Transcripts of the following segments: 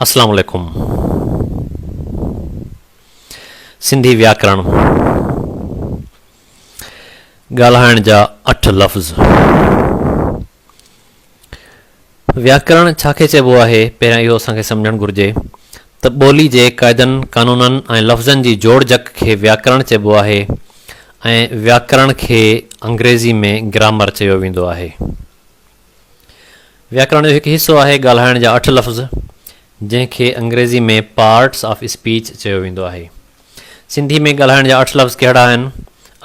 اسلام عليڪم سنڌي وياڪرڻ ڳالهائڻ جا اٺ لفظ وياڪرڻ ڇا کي چئبو آهي پهريان اهو اسان کي سمجهڻ گهرجي ته ٻولي جي قاعدن قانونن ۽ لفظن جي جوڙجڪ کي وياڪرڻ چئبو آهي ۽ وياڪرڻ کي انگريزي ۾ گرامر چيو ويندو آهي وياڪرڻ جو هڪ حصو آهي ڳالهائڻ جا اٺ لفظ، جنهن کي انگريزي ۾ پارٽس آف اسپيچ چيو ويندو آهي. سنڌي ۾ ڳالهائڻ جا اٺ لفظ ڪهڙا آهن،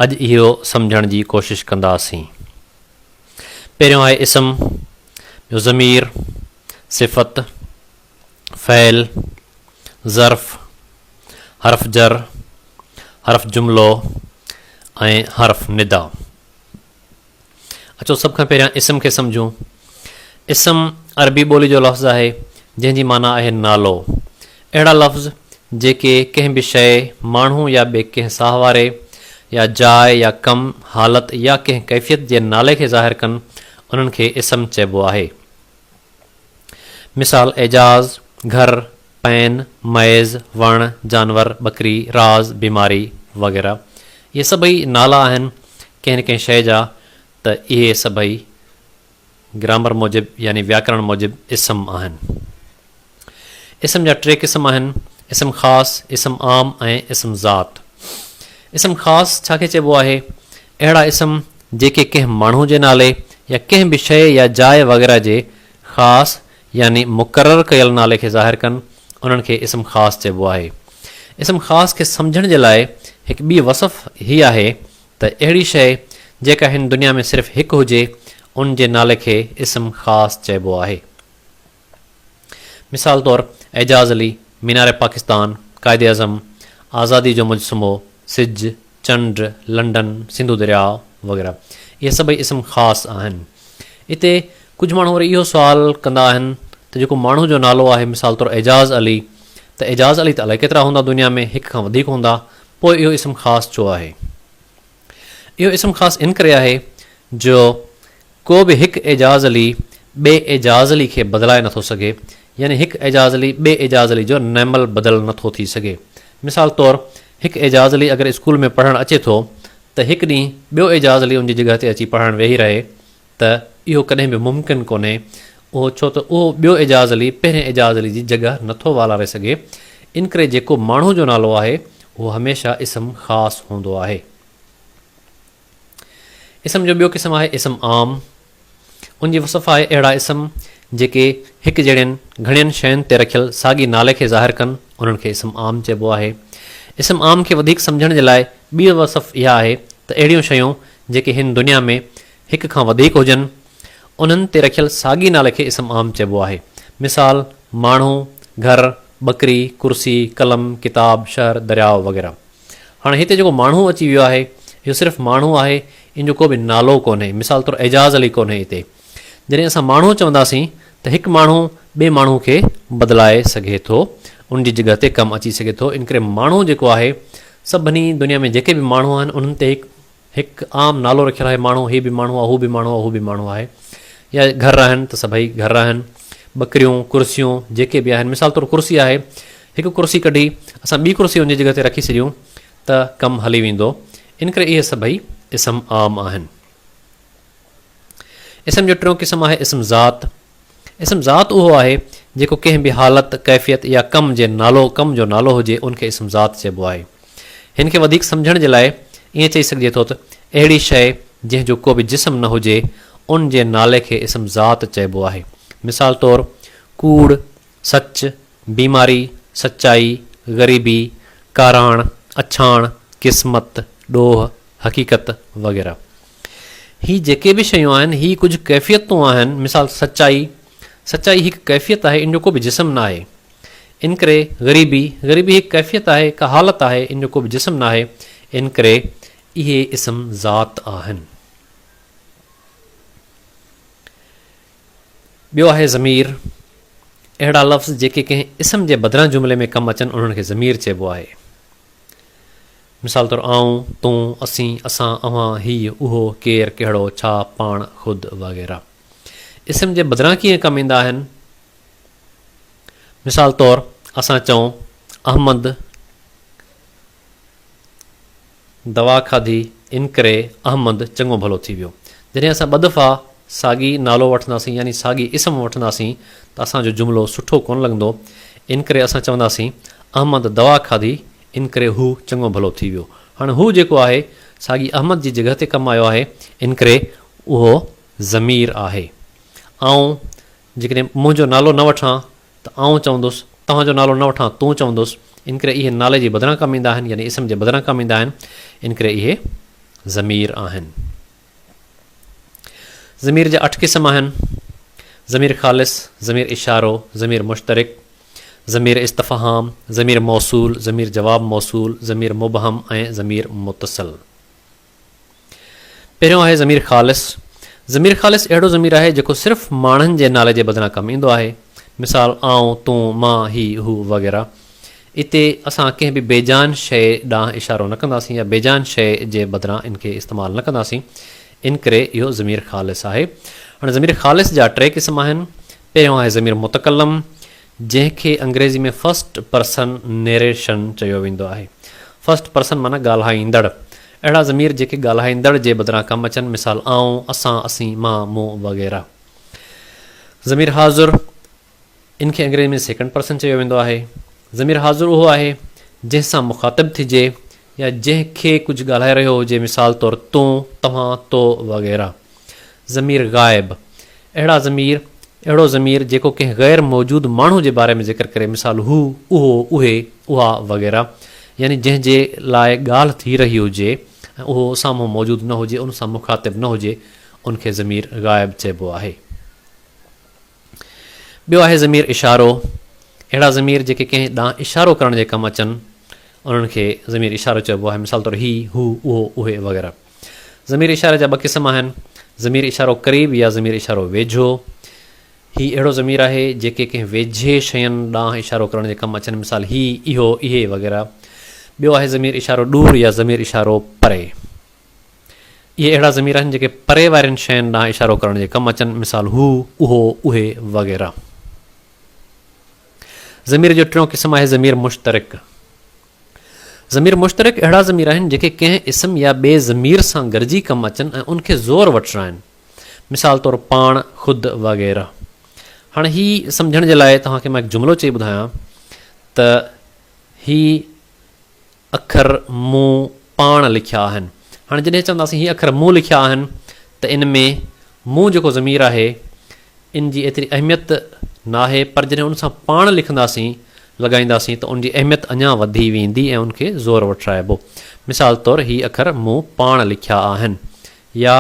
اڄ اهو سمجهڻ جي ڪوشش ڪنداسين. پهريون آهي اسم، ٻيو ضمير، صفت، فعل، ظرف، حرف جر، حرف جملو ۽ حرف ندا. اچو سڀ کان پهريان اسم کي سمجهون. اسم عربي ٻولي جو لفظ آهي، جنهن جي معنيٰ آهي نالو. اهڙا لفظ جيڪي ڪنهن به شيء، ماڻهو يا ٻي ڪنهن ساهه واري يا جاء يا ڪم، حالت يا ڪنهن ڪيفيت جي نالي کي ظاهر ڪن، انهن کي اسم چئبو آهي. مثال، اعجاز، گهر، پين، مئيز، وڻ، جانور، ٻڪري، راز، بيماري وغيره اهي سڀئي نالا آهن ڪنهن نه ڪنهن شيء جا ته اهي سڀئي گرامر موجب يعني وياڪرڻ موجب اسم آهن. اسم جا ٽي قسم آهن، اسم خاص، اسم عام ۽ اسم ذات. اسم خاص ڇا کي چئبو آهي؟ اهڙا اسم جيڪي ڪنهن ماڻهو جي نالي يا ڪنهن به شيء يا جاء وغيره جي خاص يعني مقرر ڪيل نالي کي ظاهر ڪن، انهن کي اسم خاص چئبو آهي. اسم خاص کي سمجهڻ جي لاء هڪ ٻي وصف هي آهي ته اهڙي شيء جيڪا هن دنيا ۾ صرف هڪ هجي، ان جي نالي کي اسم خاص چئبو آهي. مثال طور اعجاز علي، مينار پاڪستان، قائد اعظم، آزادي جو مجسمو، سج، چنڊ، لنڊن، سنڌو درياء وغيره اهي سڀئي اسم خاص آهن. اتي ڪجهه ماڻهو وري اهو سوال ڪندا آهن ته جيڪو ماڻهو جو نالو آهي مثال طور اعجاز علي ته اعجاز علي ته الائي ڪيترا هوندا دنيا ۾ هڪ کان وڌيڪ هوندا پوء اهو اسم خاص ڇو آهي؟ اهو اسم خاص ان ڪري آهي جو ڪو به هڪ اعجاز علي ٻئي اعجاز علي کي بدلائي نٿو سگهي، يعني هڪ اعجاز علي ٻئي اعجاز علي جو نعمل بدل نٿو ٿي سگهي. مثال طور هڪ اعجاز علي اگر اسڪول ۾ پڙهڻ اچي ٿو ته هڪ ڏينهن ٻيو اعجاز علي ان جي جڳهه تي اچي پڙهڻ ويهي رهي ته اهو ڪڏهن به ممڪن ڪونهي اهو ڇو ته اهو ٻيو اعجاز علي پهرين اعجاز علي جي جڳهه نٿو والاري سگهي انڪري جيڪو ماڻهو جو نالو آهي اهو هميشه اسم خاص هوندو آهي. اسم جو ٻيو قسم آهي اسم عام. ان جي وصف آهي اهڙا اسم جيڪي هڪ جهڙين گهڻين شين تي رکيل ساڳي نالي کي ظاهر ڪن انهن کي اسم عام چئبو آهي. اسم عام کي وڌيڪ سمجهڻ جي لاء ٻي وصف اها آهي ته اهڙيون شيون جيڪي هن دنيا ۾ هڪ کان وڌيڪ هجن انهن تي رکيل ساڳي نالي کي اسم عام چئبو آهي. مثال، ماڻهو، گهر، ٻڪري، ڪرسي، قلم، ڪتاب، شهر، درياء وغيره. هاڻي هتي جيڪو ماڻهو اچي ويو آهي، اهو صرف ماڻهو آهي، ان جو ڪو به نالو ڪونهي، مثال طور اعجاز علي ڪونهي اتي. جڏهن اسان ماڻهو چونداسين ته هڪ ماڻهو ٻئي ماڻهو کي بدلائي سگهي ٿو، ان جي جڳهه تي ڪم اچي سگهي ٿو، انڪري ماڻهو جيڪو آهي، سڀني دنيا ۾ جيڪي به ماڻهو آهن، انهن تي هڪ. هڪ عام نالو رکيل آهي ماڻهو هي به ماڻهو آهي هو به ماڻهو آهي هو به ماڻهو آهي يا گهر آهن ته سڀئي گهر آهن ٻڪريون ڪرسيون جيڪي به آهن مثال طور ڪرسي آهي هڪ ڪرسي ڪڍي اسان ٻي ڪرسي ان جي جڳهه تي رکي ڇڏيون ته ڪم هلي ويندو ان ڪري اهي سڀئي اسم عام آهن. اسم جو ٽيون قسم آهي اسم ذات اسم ذات اهو آهي جيڪو ڪنهن به حالت، ڪيفيت يا ڪم جي نالو، ڪم جو نالو هجي ان کي اسم ذات چئبو آهي. هن کي وڌيڪ سمجهڻ جي لاء ائين چئي سگهجي ٿو ته اهڙي شيء جنهن جو ڪو به جسم نه هجي ان جي نالي کي اسم ذات چئبو آهي. مثال طور، ڪوڙ، سچ، بيماري، سچائي، غريبي، ڪاراڻ، اڇاڻ، قسمت، ڏوهه، حقيقت وغيره. هي جيڪي به شيون آهن، هي ڪجهه ڪيفيتون آهن، مثال سچائي، سچائي هڪ ڪيفيت آهي، ان جو ڪو به جسم ناهي. انڪري، غريبي، غريبي هڪ ڪيفيت آهي، هڪ حالت آهي، ان جو ڪو به جسم ناهي. انڪري، اهي اسم ذات آهن. ٻيو آهي ضمير، اهڙا لفظ جيڪي ڪنهن اسم جي بدران جملي ۾ ڪم اچن، انهن کي ضمير چئبو آهي. مثال طور آئون، تون، اسين، اسان، اوهان، هي، اهو، ڪير، ڪهڙو، ڇا، پاڻ، خود وغيره اسم جي بدران ڪيئن ڪم ايندا آهن؟ مثال طور اسان چئون، احمد دوا کاڌي انڪري احمد چڱو ڀلو ٿي ويو. جڏهن اسان ٻه دفعا ساڳي نالو وٺنداسين يعني ساڳي اسم وٺنداسين ته اسان جو جملو سٺو ڪونه لڳندو انڪري اسان چونداسين، احمد دوا کاڌي ان ڪري هو چڱو ڀلو ٿي ويو. هاڻي هو جيڪو آهي، ساڳي احمد جي جڳهه تي ڪم آيو آهي، ان ڪري اهو ضمير آهي. آئون جيڪڏهن منهنجو نالو نه وٺان ته آئون چوندس، توهان جو نالو نه وٺان تون چوندس، ان ڪري اهي نالي جي بدران ڪم ايندا آهن، يعني اسم جي بدران ڪم ايندا آهن، ان ڪري اهي ضمير آهن. ضمير جا اٺ قسم آهن، ضمير خالص، ضمير اشارو، ضمير مشترڪ، ضمير استفهام، ضمير موصول، ضمير جواب موصول، ضمير مبهم ۽ ضمير متصل. پهريون آهي ضمير خالص. ضمير خالص اهڙو ضمير آهي جيڪو صرف ماڻهن جي نالي جي بدران ڪم ايندو آهي. مثال، آئون، تون، مان، هي، هو وغيره. اتي اسان ڪنهن به بي جان شيء ڏانهن اشارو نه ڪنداسين يا بي جان شيء جي بدران ان کي استعمال نه ڪنداسين. ان ڪري اهو ضمير خالص آهي. هاڻي ضمير خالص جا ٽي قسم آهن. پهريون آهي ضمير متڪلم، جنهن کي انگريزي ۾ فرسٽ پرسن نيريشن چيو ويندو آهي. فرسٽ پرسن معنيٰ ڳالهائيندڙ. اهڙا ضمير جيڪي ڳالهائيندڙ جي بدران ڪم اچن، مثال، آئون، اسان، اسين، مان، مون وغيره. ضمير حاضر، ان کي انگريزي ۾ سيڪنڊ پرسن چيو ويندو آهي. ضمير حاضر اهو آهي، جنهن سان مخاطب ٿجي يا جنهن کي ڪجهه ڳالهائي رهيو هجي مثال طور تون، توهان، تو وغيره. ضمير غائب، اهڙا ضمير، اهڙو ضمير جيڪو ڪنهن غير موجود ماڻهو جي باري ۾ ذڪر ڪري مثال هو، اهو، اهي، اها وغيره يعني جنهن جي لاء ڳالهه ٿي رهي هجي ۽ اهو سامهون موجود نه هجي، ان سان مخاطب نه هجي، ان کي ضمير غائب چئبو آهي. ٻيو آهي ضمير اشارو، اهڙا ضمير جيڪي ڪنهن ڏانهن اشارو ڪرڻ جي ڪم اچن، انهن کي ضمير اشارو چئبو آهي، مثال طور هي، هو، اهو، اهي وغيره. ضمير اشاري جا ٻه قسم آهن، ضمير اشارو قريب يا ضمير اشارو ويجهو. هي اهڙو ضمير آهي، جيڪي ڪنهن ويجهي شين ڏانهن اشارو ڪرڻ جي ڪم اچن، مثال هي، اهو، اهي وغيره. ٻيو آهي ضمير اشارو ڏور يا ضمير اشارو پري. اهي اهڙا ضمير آهن جيڪي پري وارين شين ڏانهن اشارو ڪرڻ جي ڪم اچن، مثال، هو، اهو، اهي وغيره. ضمير جو ٽيون قسم آهي ضمير مشترڪ. ضمير مشترڪ اهڙا ضمير آهن جيڪي ڪنهن اسم يا ٻئي ضمير سان گڏجي ڪم اچن ۽ ان کي زور وٺرائن، مثال طور، پاڻ، خود وغيره. هاڻي هي سمجهڻ جي لاء توهان کي مان هڪ جملو چئي ٻڌايان ته هي اکر مون پاڻ لکيا آهن. هاڻي جڏهن چونداسين هي اکر مون لکيا آهن ته ان ۾ مون جيڪو ضمير آهي ان جي ايتري اهميت ناهي پر جڏهن ان سان پاڻ لکنداسين، لڳائينداسين ته ان جي اهميت اڃا وڌي ويندي ۽ ان کي زور وٺرائبو. مثال طور هي اکر مون پاڻ لکيا آهن يا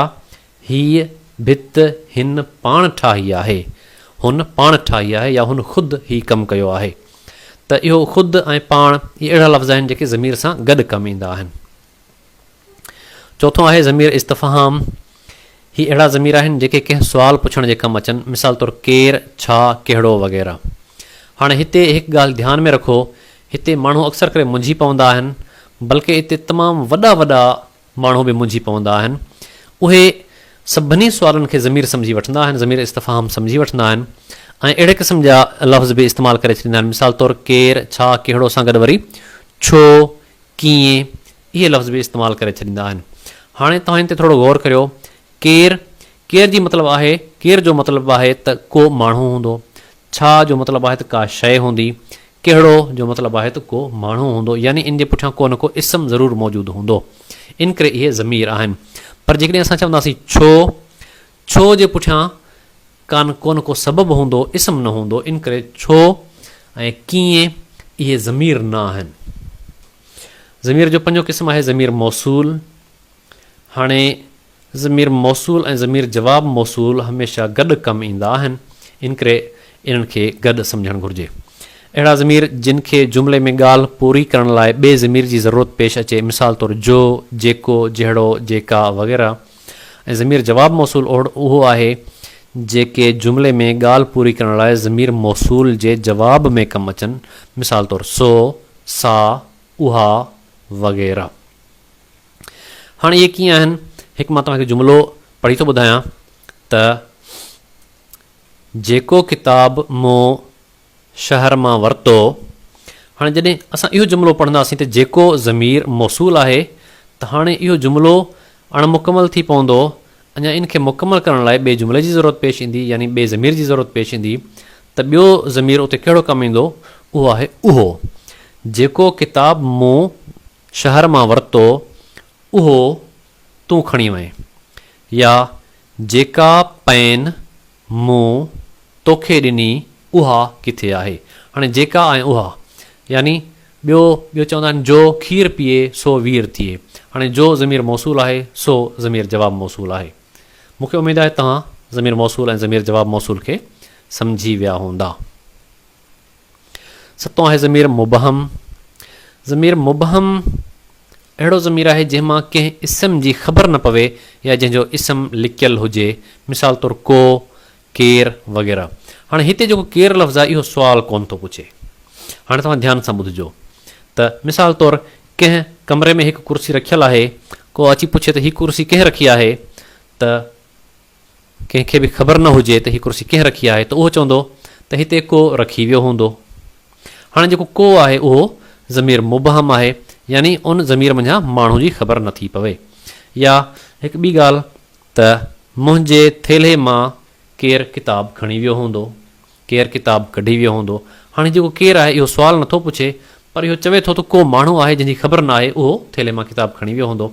هيء ڀت هن پاڻ ٺاهي آهي. هن پاڻ ٺاهي آهي يا هن خود هي ڪم ڪيو آهي. ته اهو خود ۽ پاڻ اهي اهڙا لفظ آهن جيڪي ضمير سان گڏ ڪم ايندا آهن. چوٿون آهي ضمير استفهام. هي اهڙا ضمير آهن جيڪي ڪنهن سوال پڇڻ جي ڪم اچن مثال طور ڪير، ڇا، ڪهڙو وغيره. هاڻي هتي هڪ ڳالهه ڌيان ۾ رکو هتي ماڻهو اڪثر ڪري منجهي پوندا آهن بلڪه اتي تمام وڏا وڏا ماڻهو به منجهي پوندا آهن. اهي سڀني سوالن کي ضمير سمجهي وٺندا آهن، ضمير استفهام سمجهي وٺندا آهن ۽ اهڙي قسم جا لفظ به استعمال ڪري ڇڏيندا آهن. مثال طور ڪير، ڇا، ڪهڙو سان گڏ وري ڇو، ڪيئن اهي لفظ به استعمال ڪري ڇڏيندا آهن. هاڻي توهان ان تي ٿورو غور ڪريو. ڪير، ڪير جي مطلب آهي، ڪير جو مطلب آهي ته ڪو ماڻهو هوندو. ڇا جو مطلب آهي ته ڪا شيء هوندي. ڪهڙو جو مطلب آهي ته ڪو ماڻهو هوندو يعني ان جي پٺيان ڪو نه ڪو اسم ضرور موجود هوندو. ان ڪري اهي ضمير آهن. پر جيڪڏهن اسان چونداسين ڇو؟ ڇو جي پٺيان ڪان ڪو نه ڪو سبب هوندو، اسم نه هوندو. ان ڪري ڇو ۽ ڪيئن اهي ضمير نه آهن. ضمير جو پنجون قسم آهي ضمير موصول. هاڻي ضمير موصول ۽ ضمير جواب موصول هميشه گڏ ڪم ايندا آهن، انڪري انهن کي گڏ سمجهڻ گهرجي. اهڙا ضمير جن کي جملي ۾ ڳالهه پوري ڪرڻ لاء ٻئي ضمير جي ضرورت پيش اچي مثال طور جو، جيڪو، جهڙو، جيڪا وغيره ۽ ضمير جواب موصول اهو آهي جيڪي جملي ۾ ڳالهه پوري ڪرڻ لاء ضمير موصول جي جواب ۾ ڪم اچن مثال طور سو، سا، اها وغيره. هاڻ اهي ڪيئن آهن؟ هڪ مان توهان کي جملو پڙهي ٿو ٻڌايان ته جيڪو ڪتاب مون شهر مان ورتو. هاڻي جڏهن اسان اهو جملو پڙهنداسين ته جيڪو ضمير موصول آهي ته هاڻي اهو جملو اڻ مڪمل ٿي پوندو اڃا ان کي مڪمل ڪرڻ لاء ٻئي جملي جي ضرورت پيش ايندي يعني ٻئي ضمير جي ضرورت پيش ايندي ته ٻيو ضمير اتي ڪهڙو ڪم ايندو اهو آهي اهو جيڪو ڪتاب مون شهر مان ورتو اهو تون کڻي وئين. يا جيڪا پين مون توکي ڏني اها ڪٿي آهي. هاڻي جيڪا ۽ اها يعني ٻيو ٻيو چوندا آهن جو کير پيئي سو وير ٿئي. هاڻي جو ضمير موصول آهي سو ضمير جواب موصول آهي. مون کي اميد آهي توهان ضمير موصول ۽ ضمير جواب موصول کي سمجهي ويا هوندا. ستون آهي ضمير مبهم. ضمير مبهم اهڙو ضمير آهي جنهن مان ڪنهن اسم جي خبر نه پوي يا جنهن جو اسم لڪيل هجي مثال طور ڪو، ڪير وغيره. هاڻي هتي جيڪو ڪير لفظ آهي اهو سوال ڪونه ٿو پڇي. هاڻي توهان ڌيان سان ٻڌجو ته مثال طور ڪنهن ڪمري ۾ هڪ ڪرسي رکيل آهي ڪو اچي پڇي ته هي ڪرسي ڪنهن رکي آهي ته ڪنهن کي به خبر نه هجي ته هي ڪرسي ڪنهن رکي آهي ته اهو چوندو ته هتي ڪو رکي ويو هوندو. هاڻي جيڪو ڪو آهي اهو ضمير مبهم آهي يعني ان ضمير منجهان ماڻهو جي خبر نه ٿي پوي. يا هڪ ٻي ڳالهه ته منهنجي ٿيلهي مان ڪير ڪتاب کڻي ويو هوندو، ڪير ڪتاب ڪڍي ويو هوندو. هاڻي هي جيڪو ڪير آهي اهو سوال نه ٿو پڇي پر اهو چوي ٿو ته ڪو ماڻهو آهي جنهن جي خبر نه آهي اهو ٿيلهي مان ڪتاب کڻي ويو هوندو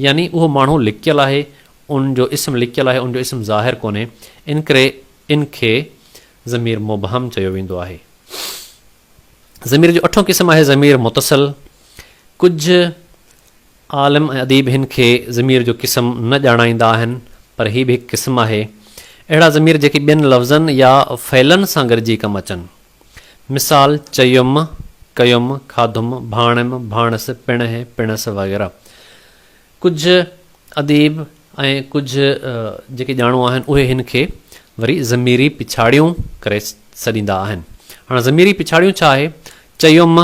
يعني اهو ماڻهو لڪيل آهي ان جو اسم لڪيل آهي ان جو اسم ظاهر ڪونهي ان ڪري ان کي ضمير مبهم چيو ويندو آهي. ضمير جو اٺون قسم آهي ضمير متصل. ڪجهه عالم ۽ اديب هن کي ضمير جو قسم نه ڄاڻائيندا آهن پر هي به هڪ قسم آهي. اهڙا ضمير جيڪي ٻين لفظن يا فعلن سان گڏجي ڪم اچن. مثال، چيم، ڪيم، کاڌم، ڀاڻيم، ڀاڻس، پڻهه، پڻس وغيره. ڪجهه اديب ۽ ڪجهه جيڪي ڄاڻو آهن اهي هن کي وري ضميري پڇاڙيون ڪري سڏيندا آهن. هاڻ ضميري پڇاڙيون ڇا آهي؟ چيم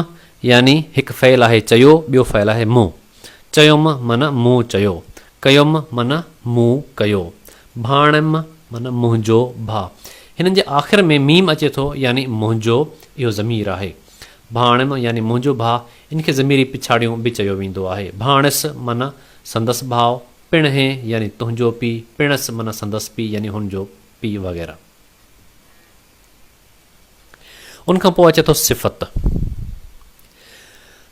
يعني هڪ فعل آهي چيو ٻيو فعل آهي مون. چيم معنيٰ مون چيو. ڪيم معنيٰ مون ڪيو. ڀاڻيم معنيٰ منهنجو ڀاء. هنن جي آخر ۾ ميم اچي ٿو يعني منهنجو اهو ضمير آهي. ڀاڻيم يعني منهنجو ڀاء، ان کي ضميري پڇاڙيون به چيو ويندو آهي. ڀاڻيس معنيٰ سندس ڀاء، پڻهين يعني تنهنجو پيء، پڻس معنيٰ سندس پيء يعني هن جو پيء وغيره. ان کان پوء اچي ٿو صفت.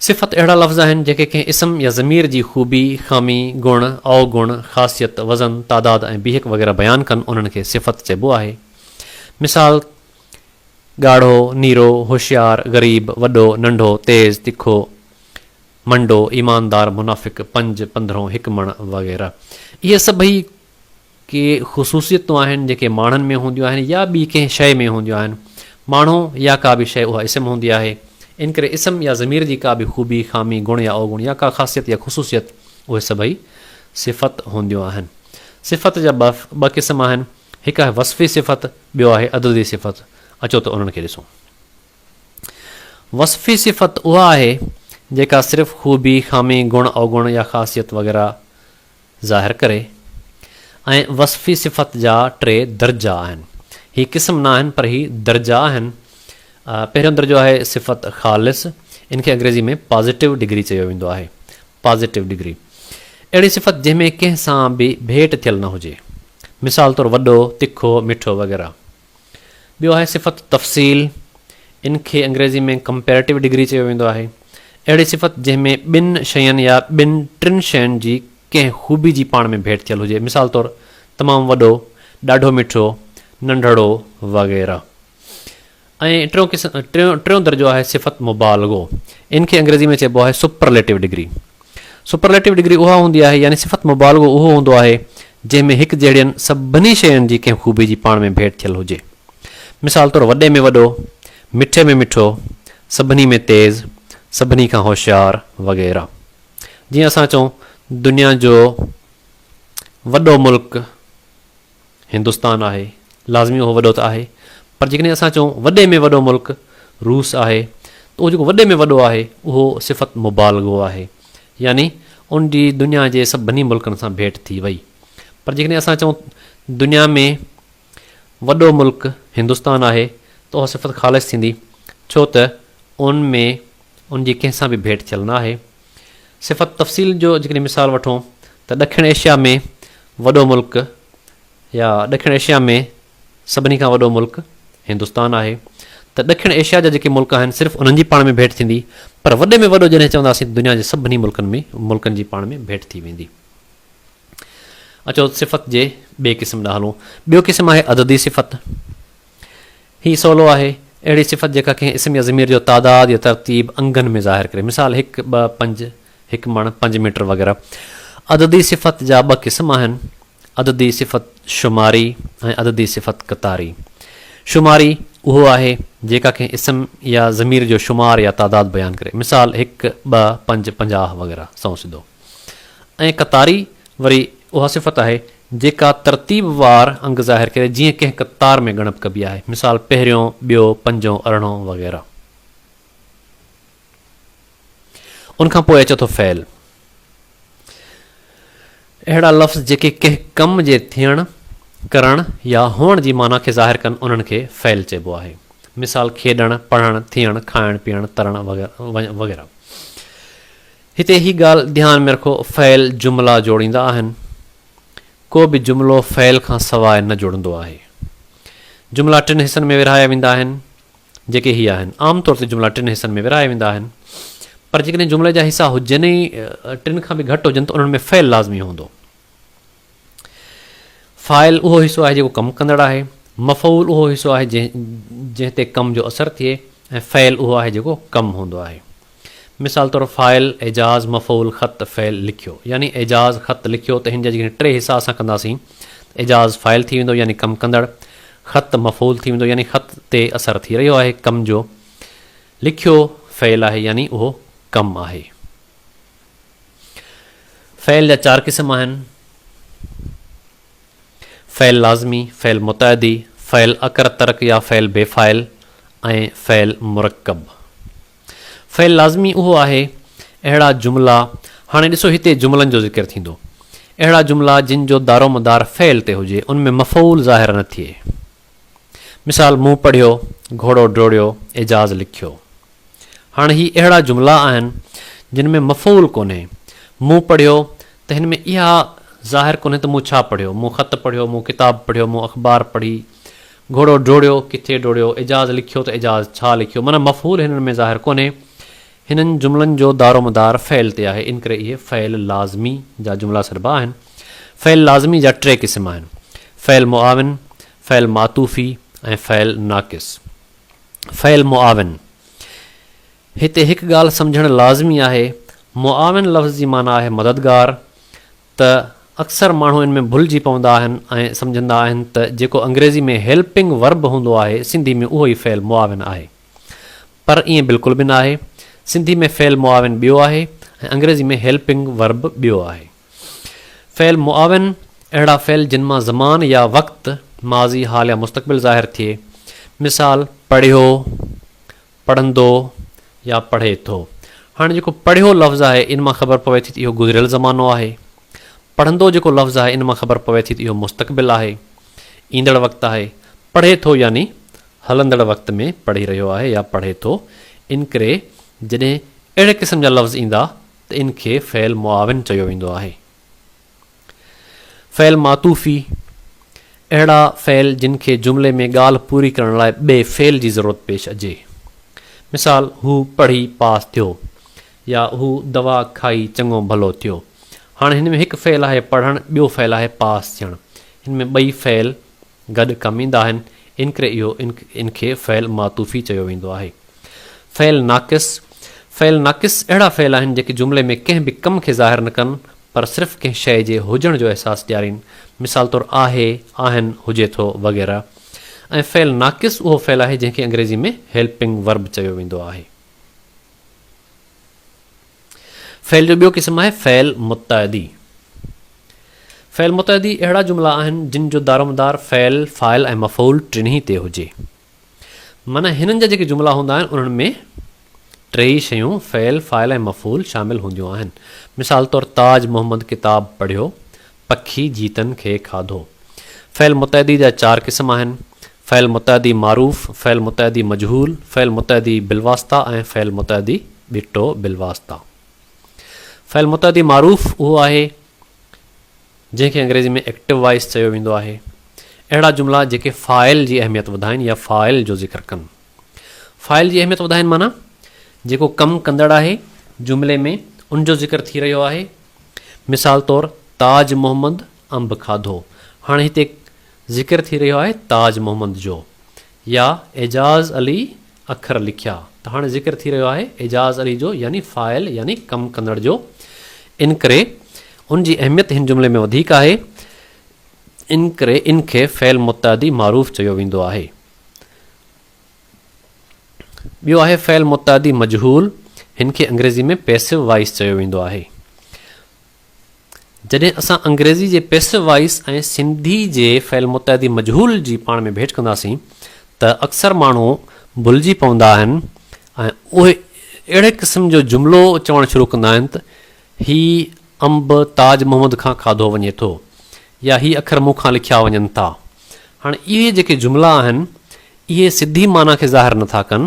صفت اهڙا لفظ آهن، جيڪي ڪنهن اسم يا ضمير جي خوبي، خامي، گڻ، اوگڻ، خاصيت، وزن، تعداد ۽ بيهڪ وغيره بيان ڪن، انهن کي صفت چئبو آهي. مثال، ڳاڙهو، نيرو، هوشيار، غريب، وڏو، ننڍو، تيز، تکو، منڊو، ايماندار، منافق، پنج، پنڌرهون، هڪ مڻ وغيره. اهي سڀئي ڪي خصوصيتون آهن جيڪي ماڻهن ۾ هونديون آهن يا ٻي ڪنهن شيء ۾ هونديون آهن. ماڻهو يا ڪا به شيء اها اسم هوندي آهي. ان ڪري اسم يا ضمير جي ڪا به خوبي، خامي، گڻ يا اوگڻ يا ڪا خاصيت يا خصوصيت اهي سڀئي صفت هونديون آهن. صفت جا ٻه قسم آهن، هڪ آهي وصفي صفت ٻيو آهي عددي صفت، اچو ته انهن کي ڏسون. وصفي صفت اها آهي جيڪا صرف خوبي، خامي، گڻ، اوگڻ يا خاصيت وغيره ظاهر ڪري ۽ وصفي صفت جا ٽي درجا آهن. هي قسم نه آهن پر هي درجا آهن. پهريون درجو آهي صفت خالص، ان کي انگريزي ۾ پازيٽو ڊگري چيو ويندو آهي. پازيٽو ڊگري، اهڙي صفت جنهن ۾ ڪنهن سان به ڀيٽ ٿيل نه هجي، مثال طور وڏو، تکو، مٺو وغيره. ٻيو آهي صفت تفصيل، ان کي انگريزي ۾ ڪمپيريٽو ڊگري چيو ويندو آهي، اهڙي صفت جنهن ۾ ٻن شين يا ٻن ٽن شين جي ڪنهن خوبي جي پاڻ ۾ ڀيٽ ٿيل هجي، مثال طور تمام وڏو، ڏاڍو مٺو، ننڍڙو وغيره. ۽ ٽيون قسم ٽيون ٽيون درجو آهي صفت مبالغو ان کي انگريزي ۾ چئبو آهي سپرليٽو ڊگري سپرليٽو ڊگري اها هوندي آهي يعني صفت مبالغو اهو هوندو آهي جنهن ۾ هڪ جهڙين سڀني شين جي ڪنهن خوبي جي پاڻ ۾ ڀيٽ ٿيل هجي مثال طور وڏي ۾ وڏو مٺي ۾ مٺو سڀني ۾ تيز سڀني کان هوشيار وغيره جيئن اسان چئون دنيا جو وڏو ملڪ هندستان آهي، لازمي اهو وڏو ته آهي، پر جيڪڏهن اسان چئون وڏي ۾ وڏو ملڪ روس آهي ته اهو جيڪو وڏي ۾ وڏو آهي اهو صفت مبالغو آهي، يعني ان جي دنيا جي سڀني ملڪن سان ڀيٽ ٿي وئي. پر جيڪڏهن اسان چئون دنيا ۾ وڏو ملڪ هندستان آهي ته اها صفت خالص ٿيندي، ڇو ته ان ۾ ان جي ڪنهن سان به ڀيٽ ٿيل نه آهي. صفت تفصيل جو جيڪڏهن مثال وٺون ته ڏکڻ ايشيا ۾ وڏو ملڪ يا ڏکڻ ايشيا ۾ سڀني کان وڏو ملڪ هندستان آهي ته ڏکڻ ايشيا جا جيڪي ملڪ آهن صرف انهن جي پاڻ ۾ ڀيٽ ٿيندي پر وڏي ۾ وڏو جڏهن چونداسين ته دنيا جي سڀني ملڪن ۾ ملڪن جي پاڻ ۾ ڀيٽ ٿي ويندي. اچو صفت جي ٻئي قسم ڏانهن هلون. ٻيو قسم آهي عددي صفت. هي سولو آهي، اهڙي صفت جيڪا ڪنهن اسم يا ضمير جو تعداد يا ترتيب انگن ۾ ظاهر ڪري، مثال، هڪ، ٻه، پنج، هڪ مڻ، پنج ميٽر وغيره. عددي صفت جا ٻه قسم آهن، عددي صفت شماري ۽ عددي صفت قطاري. شماري اهو آهي، جيڪا ڪنهن اسم يا ضمير جو شمار يا تعداد بيان ڪري، مثال، هڪ، ٻه، پنج، پنجاهه وغيره سنئون سڌو. ۽ قطاري وري اها صفت آهي، جيڪا ترتيب وار انگ ظاهر ڪري جيئن ڪنهن قطار ۾ ڳڻپ ڪبي آهي، مثال، پهريون، ٻيو، پنجون، ارڙهون وغيره. ان کان پوء اچي ٿو فعل. اهڙا لفظ جيڪي ڪنهن ڪم جي ٿيڻ، ڪرڻ يا هئڻ جي معنيٰ کي ظاهر ڪن انهن کي فعل چئبو آهي. مثال، کيڏڻ، پڙهڻ، ٿيڻ، کائڻ، پيئڻ، ترڻ وغيره. هتي هي ڳالهه ڌيان ۾ رکو فعل جملا جوڙيندا آهن. ڪو به جملو فعل کان سواء نه جڙندو آهي. جملا ٽن حصن ۾ ورهايا ويندا آهن جيڪي هي آهن. عام طور تي جملا ٽن حصن ۾ ورهايا ويندا آهن پر جيڪڏهن جملي جا حصا هجن ئي ٽن کان به گهٽ هجن ته انهن ۾ فعل لازمي هوندو. فاعل اهو حصو آهي جيڪو ڪم ڪندڙ آهي. مفعول اهو حصو آهي جنهن تي ڪم جو اثر ٿئي ۽ فعل اهو آهي جيڪو ڪم هوندو آهي. مثال طور فاعل، اعجاز، مفعول، خط، فعل، لکيو. يعني اعجاز خط لکيو ته هن جا جيڪڏهن ٽي حصا اسان ڪنداسين ته اعجاز فاعل ٿي ويندو يعني ڪم ڪندڙ، خط مفعول ٿي ويندو يعني خط تي اثر ٿي رهيو آهي ڪم جو، لکيو فعل آهي يعني اهو ڪم آهي. فعل جا چار قسم آهن، فعل لازمي، فعل متعدي، فعل اڪر ترڪ يا فعل بي فاعل ۽ فعل مرڪب. فعل لازمي اهو آهي، اهڙا جملا، هاڻي ڏسو هتي جملن جو ذڪر ٿيندو، اهڙا جملا جن جو دارومدار فعل تي هجي، ان ۾ مفعول ظاهر نه ٿئي. مثال، مون پڙهيو، گهوڙو ڊوڙيو، اعجاز لکيو. هاڻ هي اهڙا جملا آهن جن ۾ مفعول ڪونهي. مون پڙهيو ته هن ۾ اها ظاهر ڪونهي ته مون ڇا پڙهيو، مون خط پڙهيو، مون ڪتاب پڙهيو، مون اخبار پڙهي، گهوڙو ڊوڙيو، ڪٿي ڊوڙيو، اعجاز لکيو ته اعجاز ڇا لکيو معنيٰ مفعول هنن ۾ ظاهر ڪونهي. هنن جملن جو دارومدار فعل تي آهي انڪري اهي فعل لازمي جا جملا سڏبا آهن. فعل لازمي جا ٽي قسم آهن، فعل معاون، فعل معطوفي ۽ فعل ناقص. فعل معاون، هتي هڪ ڳالهه سمجهڻ لازمي آهي، معاون لفظ جي معنيٰ آهي مددگار، ته اڪثر ماڻهو ان ۾ ڀلجي پوندا آهن ۽ سمجهندا آهن ته جيڪو انگريزي ۾ Helping Verb هوندو آهي سنڌي ۾ اهو ئي فعل معاون آهي پر ائين بلڪل به ناهي، سنڌي ۾ فعل معاون ٻيو آهي ۽ انگريزي ۾ Helping Verb ٻيو آهي. فعل معاون، اهڙا فعل جن مان زمان يا وقت، ماضي، حال يا مستقبل ظاهر ٿئي. مثال، پڙهيو، پڙهندو يا پڙهي ٿو. هاڻي جيڪو پڙهيو لفظ آهي ان مان خبر پوي ٿي ته اهو گذريل زمانو آهي. پڙهندو جيڪو لفظ آهي ان مان خبر پوي ٿي ته اهو مستقبل آهي، ايندڙ وقت آهي. پڙهي ٿو يعني هلندڙ وقت ۾ پڙهي رهيو آهي يا پڙهي ٿو. انڪري جڏهن اهڙي قسم جا لفظ ايندا ته ان کي فعل معاون چيو ويندو آهي. فعل معطوفي، اهڙا فعل جن کي جملي ۾ ڳالهه پوري ڪرڻ لاء ٻئي فعل جي ضرورت پيش اچي. مثال، هو پڙهي پاس ٿيو يا هو دوا کائي چڱو ڀلو ٿيو. هاڻي هن ۾ هڪ فعل آهي پڙهڻ ٻيو فعل آهي پاس ٿيڻ. هن ۾ ٻئي فعل گڏ ڪم ايندا آهن، انڪري اهو ان کي فعل معطوفي چيو ويندو آهي. فعل ناقص، فعل ناقص اهڙا فعل آهن جيڪي جملي ۾ ڪنهن به ڪم کي ظاهر نه ڪن پر صرف ڪنهن شيء جي هجڻ جو احساس ڏيارين، مثال طور آهي، آهن، هجي ٿو وغيره ۽ فعل ناقص اهو فعل آهي جنهن کي انگريزي ۾ هيلپنگ ورب چيو ويندو آهي. فعل جو ٻيو قسم آهي فعل متعدي. فعل متعدي اهڙا جملا آهن جن جو دارومدار فعل، فاعل ۽ مفعول ٽنهي تي هجي. معنيٰ هنن جا جيڪي جملا هوندا آهن انهن ۾ ٽيئي شيون فعل، فاعل ۽ مفعول شامل هونديون آهن. مثال طور تاج محمد ڪتاب پڙهيو، پکي جيتن کي کاڌو. فعل متعدي جا چار قسم آهن، فعل متعدي معروف، فعل متعدي مجهول، فعل متعدي بالواسطه ۽ فعل متعدي ٻٽو بالواسطه. فعل متعدي معروف اهو آهي جنهن کي انگريزي ۾ Active Voice چيو ويندو آهي. اهڙا جملا جيڪي فاعل جي اهميت وڌائين يا فاعل جو ذڪر ڪن. فاعل جي اهميت وڌائين معنيٰ جيڪو ڪم ڪندڙ آهي جملي ۾ ان جو ذڪر ٿي رهيو آهي مثال طور تاج محمد انب کاڌو. هاڻي هتي ذڪر ٿي رهيو آهي تاج محمد جو. يا اعجاز علي اکر لکيا ته هاڻي ذڪر ٿي رهيو آهي اعجاز علي جو يعني فاعل يعني ڪم ڪندڙ جو. انڪري ان جي اهميت هن جملي ۾ وڌيڪ آهي. انڪري ان کي فعل متعدي معروف چيو ويندو آهي. ٻيو آهي فعل متعدي مجهول، هن کي انگريزي ۾ Passive Voice چيو ويندو آهي. جڏهن اسان انگريزي جي Passive Voice ۽ سنڌي جي فعل متعدي مجهول جي پاڻ ۾ ڀيٽ ڪنداسين ته اڪثر ماڻهو ڀلجي پوندا آهن ۽ اهي اهڙي قسم جو جملو چوڻ شروع ڪندا آهن ته هي انب تاج محمد کان کاڌو وڃي ٿو يا هي اکر مون کان لکيا وڃن ٿا. هاڻي اهي جيڪي جملا آهن، اهي سڌي معنيٰ کي ظاهر نه ٿا ڪن،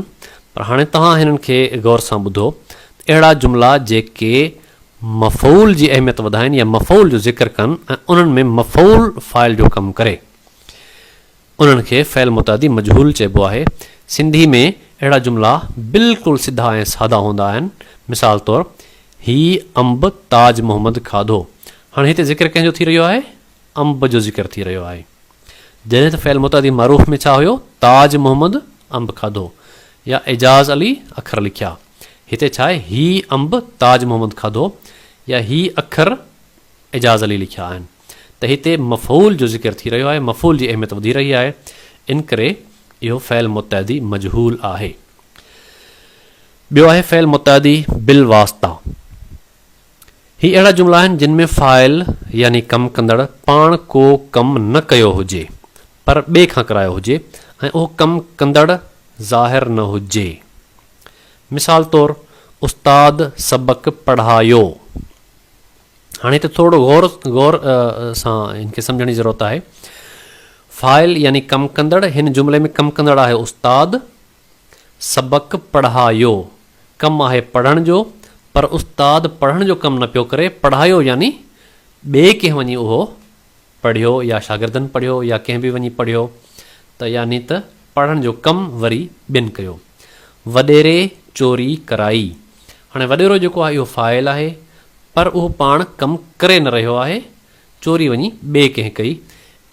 پر هاڻي توهان هنن کي غور سان ٻڌو ته اهڙا جملا جيڪي مفعول جي اهميت وڌائين يا مفعول جو ذڪر ڪن ۽ انهن ۾ مفعول فاعل جو ڪم ڪري، انهن کي فعل متعدي مجهول چئبو آهي. سنڌي ۾ اهڙا جملا بلڪل سڌا ۽ سادا هوندا آهن. مثال طور، هي انب تاج محمد کاڌو. هاڻي هتي ذڪر ڪنهن جو ٿي رهيو آهي؟ انب جو ذڪر ٿي رهيو آهي. جڏهن ته فعل متعدي معروف ۾ ڇا هيو؟ تاج محمد انب کاڌو يا اعجاز علي اکر لکيا. هتي ڇا آهي؟ هي انب تاج محمد کاڌو يا هي اکر اعجاز علي لکيا آهن. ته هتي مفعول جو ذڪر ٿي رهيو آهي، مفعول جي اهميت وڌي رهي آهي، ان ڪري اهو فعل متعدي مجهول آهي. ٻيو آهي فعل متعدي بالواسطه. هي اهڙا جملا آهن جن ۾ فاعل يعني ڪم ڪندڙ پاڻ ڪو ڪم نه ڪيو هجي پر ٻئي کان ڪرايو هجي ۽ اهو ڪم ڪندڙ ظاهر نه هجي. مثال طور، استاد سبق پڙهايو. هاڻي هتي ٿورڙو غور غور سان هن کي سمجهڻ جي ضرورت آهي فاعل يعني ڪم ڪندڙ هن جملي ۾ ڪم ڪندڙ آهي استاد سبق پڙهايو ڪم آهي پڙهڻ جو پر استاد پڙهڻ جو ڪم نه پيو ڪري پڙهايو يعني ٻئي ڪنهن وڃي اهو پڙهيو يا شاگردن پڙهيو يا ڪنهن به وڃي پڙهيو ته يعني ته پڙهڻ جو ڪم وري ٻين ڪيو. وڏيري چوري ڪرائي. هاڻي وڏيرو جيڪو آهي اهو فاعل آهي پر اهو پاڻ ڪم ڪري نه رهيو آهي چوري وڃي ٻئي ڪنهن ڪئي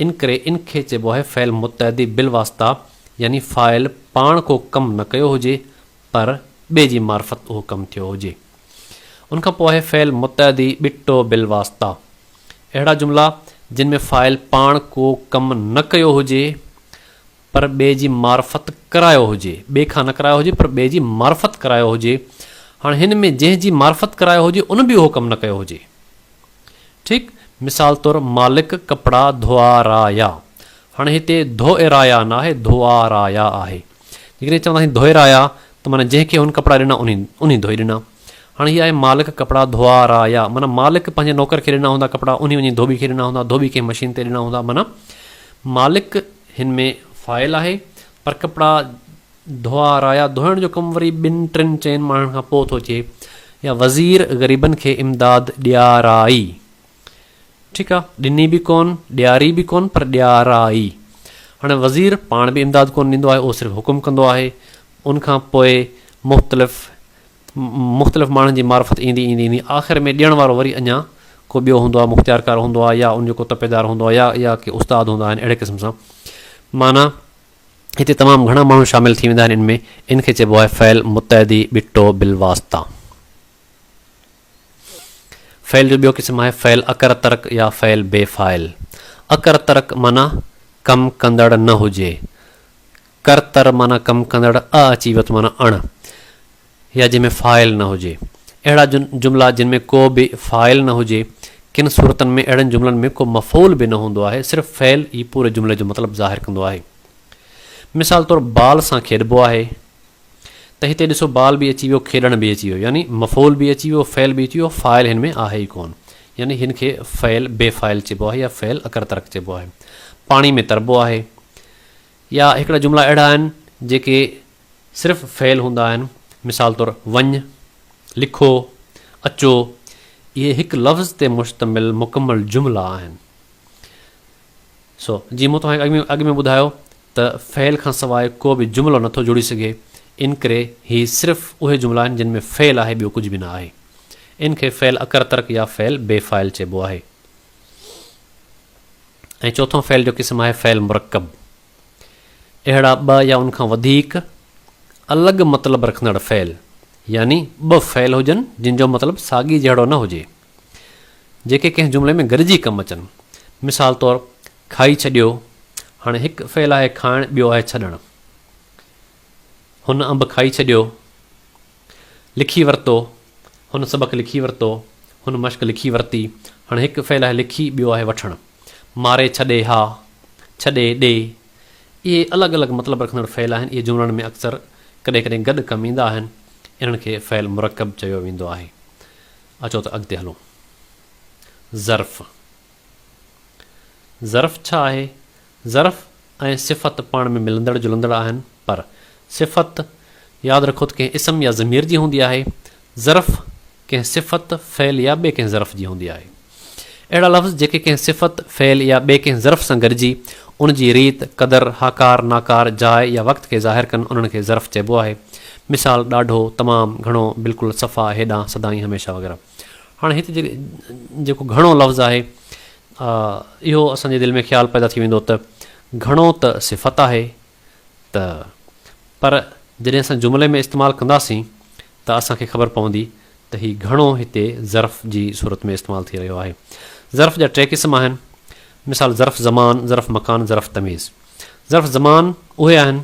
انڪري ان کي چئبو آهي فعل متعدي بالواسطه يعني فاعل پاڻ ڪو ڪم نه ڪيو هجي پر ٻئي جي معرفت اهو ڪم ٿيو هجي. ان کان پوء آهي فعل متعدي ٻٽو بالواسطه. اهڙا جملا جن ۾ فاعل پاڻ ڪو ڪم نه ڪيو هجي پر ٻئي جي معرفت ڪرايو هجي، ٻئي کان نه ڪرايو هجي پر ٻئي جي معرفت ڪرايو هجي. هاڻ هن ۾ جنهن جي معرفت ڪرايو هجي ان به اهو ڪم نه ڪيو هجي. ٺيڪ مثال طور مالڪ ڪپڙا ڌوئارايا. هاڻ هتي ڌوئرايا ناهي ڌوئارايا آهي. جيڪڏهن چونداسين ڌوئي رايا ته معنيٰ جنهن کي هن ڪپڙا ڏنا انهي ڌوئي ڏنا. هاڻي هي آهي مالڪ ڪپڙا ڌوئا را يا معنيٰ مالڪ پنهنجي نوڪر کي ڏنا هوندا ڪپڙا انهي وڃي ڌوٻي کي ڏنا هوندا ڌوٻي ڪنهن مشين تي ڏنا هوندا معنيٰ مالڪ هن ۾ فاعل آهي پر ڪپڙا ڌوئا رايا ڌوئڻ جو ڪم وري ٻن ٽن چئن ماڻهن کان پوء ٿو اچي يا وزير غريبن کي امداد ڏيارائي. ٺيڪ آ ڏني به ڪون ڏياري به ڪون پر ڏيارائي هاڻي وزير پاڻ به امداد ڪون ڏيندو آهي اهو صرف حڪم ڪندو آهي ان کان پوء مختلف مختلف ماڻهن جي معرفت ايندي ايندي ايندي آخر ۾ ڏيڻ وارو وري اڃا ڪو ٻيو هوندو آهي مختيارڪار هوندو آهي يا ان جو ڪو تپيدار هوندو آهي يا يا ڪي استاد هوندا آهن اهڙي قسم سان معنيٰ هتي تمام گهڻا ماڻهو شامل ٿي ويندا آهن ان ۾ ان کي چئبو آهي فعل متعدي ٻٽو بالواسطه فعل جو ٻيو قسم آهي فعل اڪر ترڪ يا فعل بي فاعل. اڪر ترڪ معنيٰ ڪم ڪندڙ نه هجي. ڪر تر معنيٰ ڪم ڪندڙ اء اچي ويو ته معنيٰ اڻ يا جنهن ۾ فاعل نه هجي. اهڙا جملا جن ۾ ڪو به فاعل نه هجي. ڪن صورتن ۾ اهڙن جملن ۾ ڪو مفعول به نه هوندو آهي صرف فعل ئي پوري جملي جو مطلب ظاهر ڪندو آهي. مثال طور بال سان کيڏبو آهي. ته هتي ڏسو بال به اچي ويو کيڏڻ به اچي ويو يعني مفعول به اچي ويو فعل به اچي ويو فاعل هن ۾ آهي ئي ڪون يعني هن کي فعل بي فاعل چئبو آهي يا فعل اڪر ترڪ چئبو آهي پاڻي ۾ تربو آهي يا هڪڙا جملا اهڙا آهن جيڪي صرف فعل هوندا آهن مثال طور وڃ لکو اچو اهي هڪ لفظ تي مشتمل مڪمل جملا آهن سو جي مون توهان کي اڳ ۾ اڳ ۾ ٻڌايو ته فعل کان سواء ڪو به جملو نٿو جڙي سگهي، ان ڪري هي صرف اهي جملا آهن جن ۾ فعل آهي ٻيو ڪجهه به نه آهي. ان کي فعل اڪر ترڪ يا فعل بي فاعل چئبو آهي. ۽ چوٿون فعل جو قسم آهي فعل مرڪب. اهڙا ٻه يا ان کان وڌيڪ الڳ مطلب رکندڙ فعل يعني ٻه فعل هجن جن جو مطلب ساڳي جهڙو نه هجي. جيڪي ڪنهن جملي ۾ گڏجي ڪم اچن. مثال طور، کائي ڇڏيو، هاڻي هڪ فعل آهي کائڻ ٻيو آهي ڇڏڻ. هن انب کائي ڇڏيو. لکي ورتو، هن سبق لکي ورتو. هن مشق لکي ورتي. هاڻي هڪ فعل آهي لکي ٻيو آهي وٺڻ. ماري ڇڏي ها، ڇڏي ڏي. اهي الڳ الڳ مطلب رکندڙ فعل آهن. اهي جملن ۾ اڪثر ڪڏهن ڪڏهن گڏ ڪم ايندا آهن. انهن کي فعل مرڪب چيو ويندو آهي. اچو ته اڳتي هلون. ظرف، ظرف ڇا آهي؟ ظرف ۽ صفت پاڻ ۾ ملندڙ جلندڙ آهن پر صفت ياد رکو ته ڪنهن اسم يا ضمير جي هوندي آهي، ظرف ڪنهن صفت، فعل يا ٻئي ڪنهن ظرف جي هوندي آهي. اهڙا لفظ جيڪي ڪنهن صفت، فعل يا ٻئي ڪنهن ظرف سان گڏجي ان جي ريت، قدر، هاڪار، ناڪار، جاء يا وقت کي ظاهر ڪن انهن کي ظرف چئبو آهي. مثال، ڏاڍو، تمام، گهڻو، بلڪل، صفا، هيڏانهن، سدائين، هميشه وغيره. هاڻي هت جي جيڪو گهڻو لفظ آهي اهو اسان جي دل ۾ خيال پيدا ٿي ويندو ته گهڻو ته صفت آهي. ته پر جڏهن اسان جملي ۾ استعمال ڪنداسين ته اسان کي خبر پوندي ته هي گهڻو هتي ظرف جي صورت ۾ استعمال ٿي رهيو آهي. ظرف جا ٽي قسم آهن. مثال ظرف زمان، ظرف مڪان، ظرف تميز. ظرف زمان اهي آهن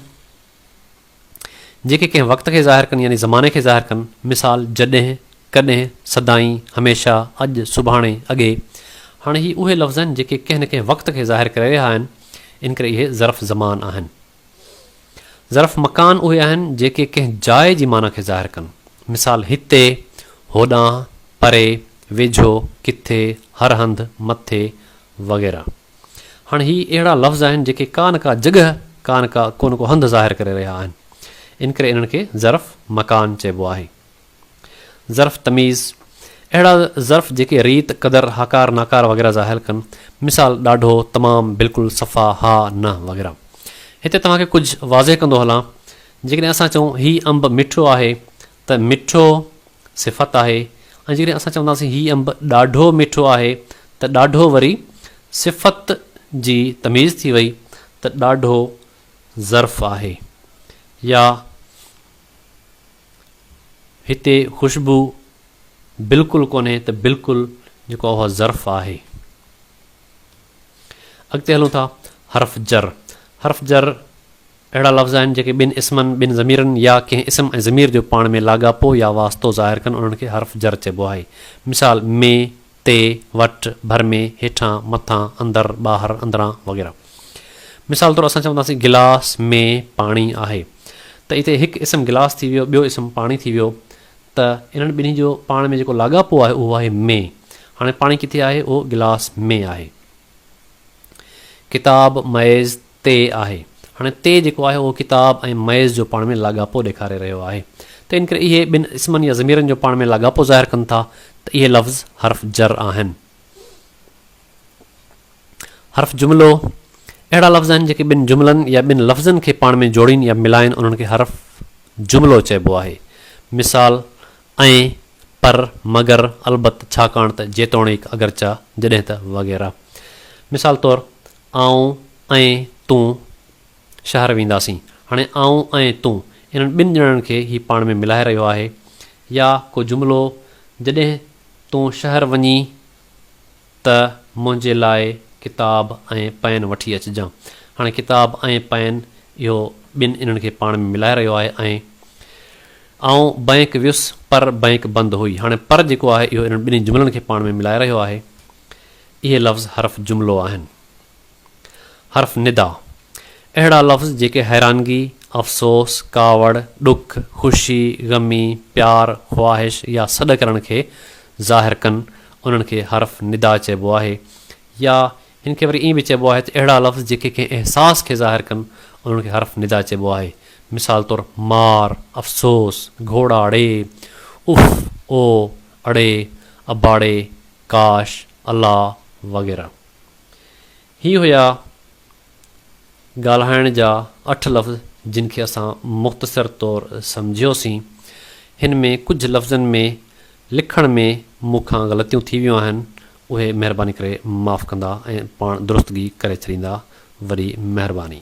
جيڪي ڪنهن وقت کي ظاهر ڪن يعني زماني کي ظاهر ڪن. مثال، جڏهن، ڪڏهن، سدائين، هميشه، اڄ، سڀاڻي، اڳي. هاڻي هي اهي لفظ آهن جيڪي ڪنهن نه ڪنهن وقت کي ظاهر ڪري رهيا آهن. ان ڪري اهي ظرف زمان آهن. ظرف مڪان اهي آهن جيڪي ڪنهن جاء جي معنيٰ کي ظاهر ڪن. مثال، هتي، هوڏانهن، پري، ويجهو، ڪٿي، هر هنڌ، مٿي، وغيره. هاڻ هي اهڙا لفظ آهن جيڪي ڪا نه ڪا جڳهه، ڪا نه ڪا ڪو نه ڪو هنڌ ظاهر ڪري رهيا آهن. ان ڪري انهن کي ظرف مڪان چئبو آهي. ظرف تميز، اهڙا ظرف جيڪي ريت، قدر، هاڪار، ناڪار وغيره ظاهر ڪن. مثال، ڏاڍو، تمام، بلڪل، صفا، ها، نه وغيره. هتي توهان کي ڪجهه واضح ڪندو هلان، جيڪڏهن اسان چئون هي انب مٺو آهي ته مٺو صفت آهي ۽ جيڪڏهن اسان چونداسين هي انب ڏاڍو مٺو آهي ته ڏاڍو وري صفت جي تميز ٿي وئي ته ڏاڍو ظرف آهي يا هتي خوشبو بلڪل ڪونهي ته بلڪل جيڪو اهو ظرف آهي. اڳتي هلون ٿا حرف جر حرف جر اهڙا لفظ آهن جيڪي ٻن اسمن، ٻن ضميرن يا ڪنهن اسم ۽ ضمير جو پاڻ ۾ لاڳاپو يا واسطو ظاهر ڪن انهن کي حرف جر چئبو آهي. مثال، مين، تي، وٽ، ڀر ۾، هيٺان، مٿان، اندر، ٻاهر، اندران وغيره. مثال طور اسان چونداسين گلاس ۾ پاڻي آهي ته اتي هڪ اسم گلاس ٿي ويو ٻيو اسم پاڻي ٿي ويو ته انهن ٻنهي جو پاڻ ۾ جيڪو لاڳاپو آهي اهو آهي ۾ هاڻي پاڻي ڪٿي آهي اهو گلاس ۾ آهي. ڪتاب ميز تي آهي. هاڻي تي جيڪو آهي اهو ڪتاب ۽ ميز جو پاڻ ۾ لاڳاپو ڏيکاري رهيو آهي. ته ان ڪري اهي ٻن اسمن يا ضميرن جو پاڻ ۾ لاڳاپو ظاهر ڪن ٿا ته اهي لفظ حرف جر آهن. حرف جملو، اهڙا لفظ آهن جيڪي ٻن جملن يا ٻن لفظن کي پاڻ ۾ جوڙين يا ملائين انهن کي حرف جملو چئبو آهي. مثال، ۽، پر، مگر، البت، ڇاڪاڻ ته، جيتوڻيڪ، اگرچه، جڏهن ته، وغيره. مثال طور، آئون ۽ تون شهر وينداسين. هاڻي آئون ۽ تون انهن ٻن ڄڻن کي هي پاڻ ۾ ملائي رهيو آهي يا ڪو جملو جڏهن تون شهر وڃين ته منهنجي لاء ڪتاب ۽ پين وٺي اچجان. هاڻي ڪتاب ۽ پين اهو ٻن انهن کي پاڻ ۾ ملائي رهيو آهي ۽. آئون بئنڪ ويس پر بئنڪ بند هئي. هاڻي پر جيڪو آهي اهو انهن ٻنهي جملن کي پاڻ ۾ ملائي رهيو آهي. اهي لفظ حرف جملو آهن. حرف ندا، اهڙا لفظ جيڪي حيرانگي، افسوس، ڪاوڙ، ڏک، خوشي، غمي، پيار، خواهش يا سڏ ڪرڻ کي ظاهر ڪن، انهن کي حرف ندا چئبو آهي يا هن کي وري ائين به چئبو آهي ته اهڙا لفظ جيڪي ڪنهن احساس کي ظاهر ڪن، انهن کي حرف ندا چئبو آهي. مثال طور مار، افسوس، گهوڙاڙي، اف، او. اڙي، اباڙي، ڪاش، الا وغيره. هي هيا ڳالهائڻ جا اٺ لفظ جن کي اسان مختصر طور سمجهيوسين. هن ۾ ڪجهه لفظن ۾ لکڻ ۾ مون کان غلطيون ٿي ويون آهن اهي مهرباني ڪري معاف ڪندا ۽ پاڻ درستگي ڪري ڇڏيندا وري مهرباني.